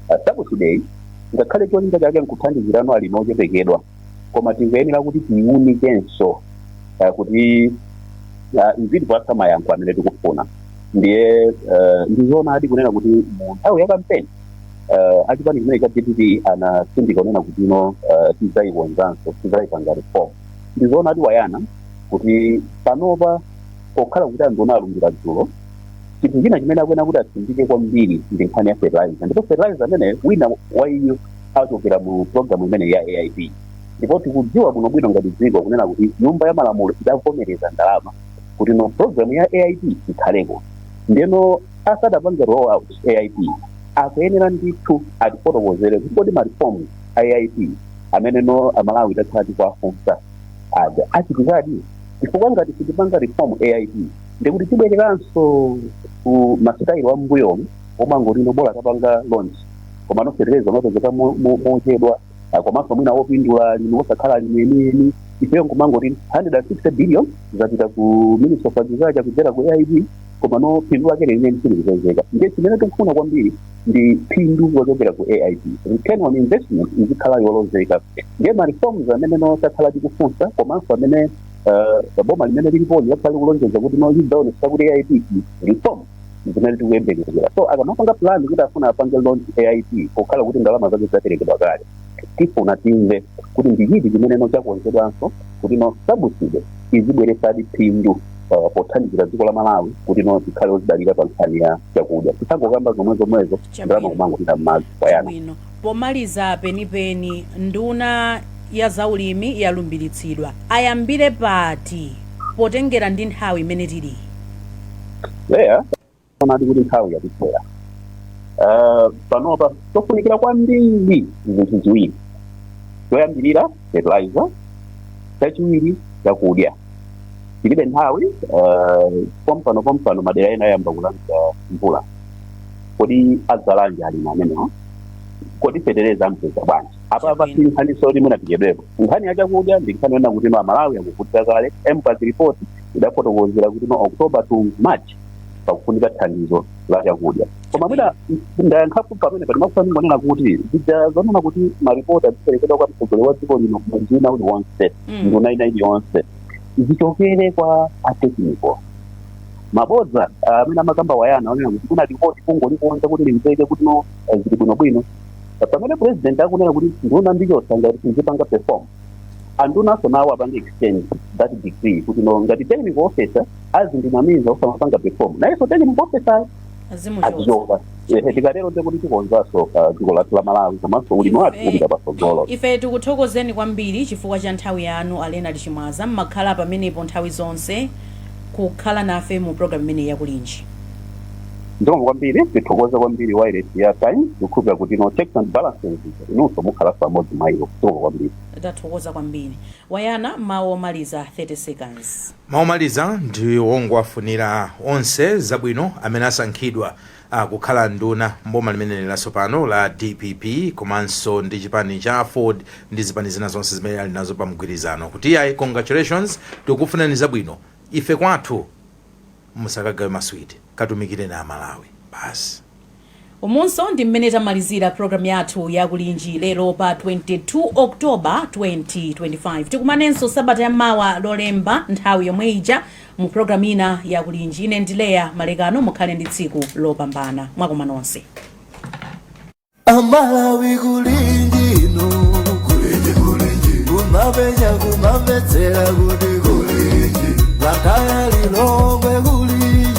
ah, subsidy ngakhale cholinga chake nkuthandizirano alimi ochepekedwa koma tingoyenera kuti tiiunikenso uh, kuti uh, izitipatsa mayankho amene tikufuna ndiye uh, ndizoonadi kunena kuti mu nthawi ya kampeni uh, achipani chimene cha dpp anatsindika kunena kuti ino uh, tidzaikonzanso tidzayipanga reform ndizoonadi wayana kuti panopa pokhala kuti a nduna alumbira dzulo chinthu china chimene akuyenera kuti atsindike kwambiri ndi nkhani ya fertilizer ndipo fertilizer amene wina wa iyu achokera mu programu imeneyi ya aip ndipo tikudziwa bwinobwino ngati dziko kunena kuti nyumba ya malamulo idavomereza ndalama kuti no programu ya aip ikhaleko ndeno asadapange roll out aip akuyenera ndithu atifotokozere kuti kodi marifomu a aip amene no amalawi takhala tikuwafunsa aja achitikadi chifukwa ngati sitipanga reform aip ndikuti tibwereranso ku masitayilo a mmbuyomu omwe omangotino bola tapanga launch komano fertilizer umapezeka mo- mo- mochedwa Ah, komanso mwina wopindula alimi osakhala alimi enieni ifeyo nkumangoti 160 billion zapita ku ministry of agriculture kudzera ku aip komano phindu lake lenileni silikupezeka ndiye chimene tikufuna kwambiri ndi phindu lochokera ku aip return on investment izikhala yolozeka ndiye ma reforms amene no takhala tikufunsa komanso amene uh, boma limene lilipoli lakhala likulonjeza kuti no lizaonesa kuti aip reform zimene tikuyembekezera so akamapanga plan kuti afuna apange launch aip pokhala kuti ndalama zake zaperekedwa kale tifuna timve kuti ndi chiti chimene no chakonzedwanso kuti no subsidy izibweresadi phindu uh, pothandizira dziko la malawi kuti no tikhale ozidalira pa nkhani ya chakudya tisangokamba zomwe zomwezo ndalama kumangopita mmadzi wayana bwino Pomaliza penipeni nduna ya za ulimi yalumbiritsidwa. Ayambire pati potengera ndi nthawi imene tiliyi? Eya, zoonadi kuti nthawi yatithera. Uh, panopa tofunikira kwambiri zinthu ziwiri choyambirira fertilizer chachiwiri chakudya tilibe nthawi uh, pompano pompano madera ena ayamba kulandira mvula kodi adzalanji alimi amenewa kodi fetereza ampeza bwanji apa pasi Chabwino. nkhani soti mwina tichedwepo nkhani ya chakudya ndi nkhani yona kuti no amalawi akuvutika kale mvac report idafotokozera kuti no october to march pakufunika thandizo la chakudya koma mwina ndayankhapo pamene ndimafuna ndingonena kuti zija zonena kuti maripoti aziperekedwa kwa mtsogoleri wa dziko lino mwezi wina uliwonse Mm. nduna ina iliyonse zichokere kwa atekniko mabodza ah, amene amakamba wayana onena kuti kunali lipoti kungolikonza kuti limveke kuti no eh, zili bwinobwino Pa- pamene president akunena kuti nduna ndichotsa ngati sizipanga perform andunaso nawo apange exchange that degree kuti no ngati technical officer azindinamiza osamapanga perform nayenso technical officer azimuchotsa azichotsa ehe tikatero ndekuti tikonzanso dziko lathu la malawi komanso ulimi wathu kupita patsogolo ife tikuthokozeni kwambiri chifukwa cha nthawi yanu a leonard chimwaza mmakhala pamenepo nthawi zonse kukhala nafe mu programu imeneyi ya kulinji zikomo kwambiri tithokoze kwambiri wairesi ya time ndikukhulupira kuti no checks and balances inunso mukhalanso amodzi mwa iwo zikomo kwambiri tathokoza kwambiri wayana mawu omaliza 30 seconds Mawu omaliza ndi ongowafunira onse zabwino amene asankhidwa kukhala nduna m'boma limeneli latsopano la dpp komanso ndi chipani cha aford ndi zipani zina zonse zimene ali nazo pa mgwirizano kuti iyayi congratulations tikukufunirani zabwino ife kwathu musakagawe maswiti katumikireni a Malawi basi. Umunso ndi mmene tamalizira program yathu ya kulinji lero pa 22 October 2025. Tikumanenso sabata ya mawa lolemba nthawi yomwe ija mu program ina ya kulinji. Ine ndi Leah Malekano mukhale ndi tsiku lopambana. Mwakoma nonse. amalawi kulingino kulinji kulinji kumapenya kumamvetsera kuti kulinji lakaya lilongwe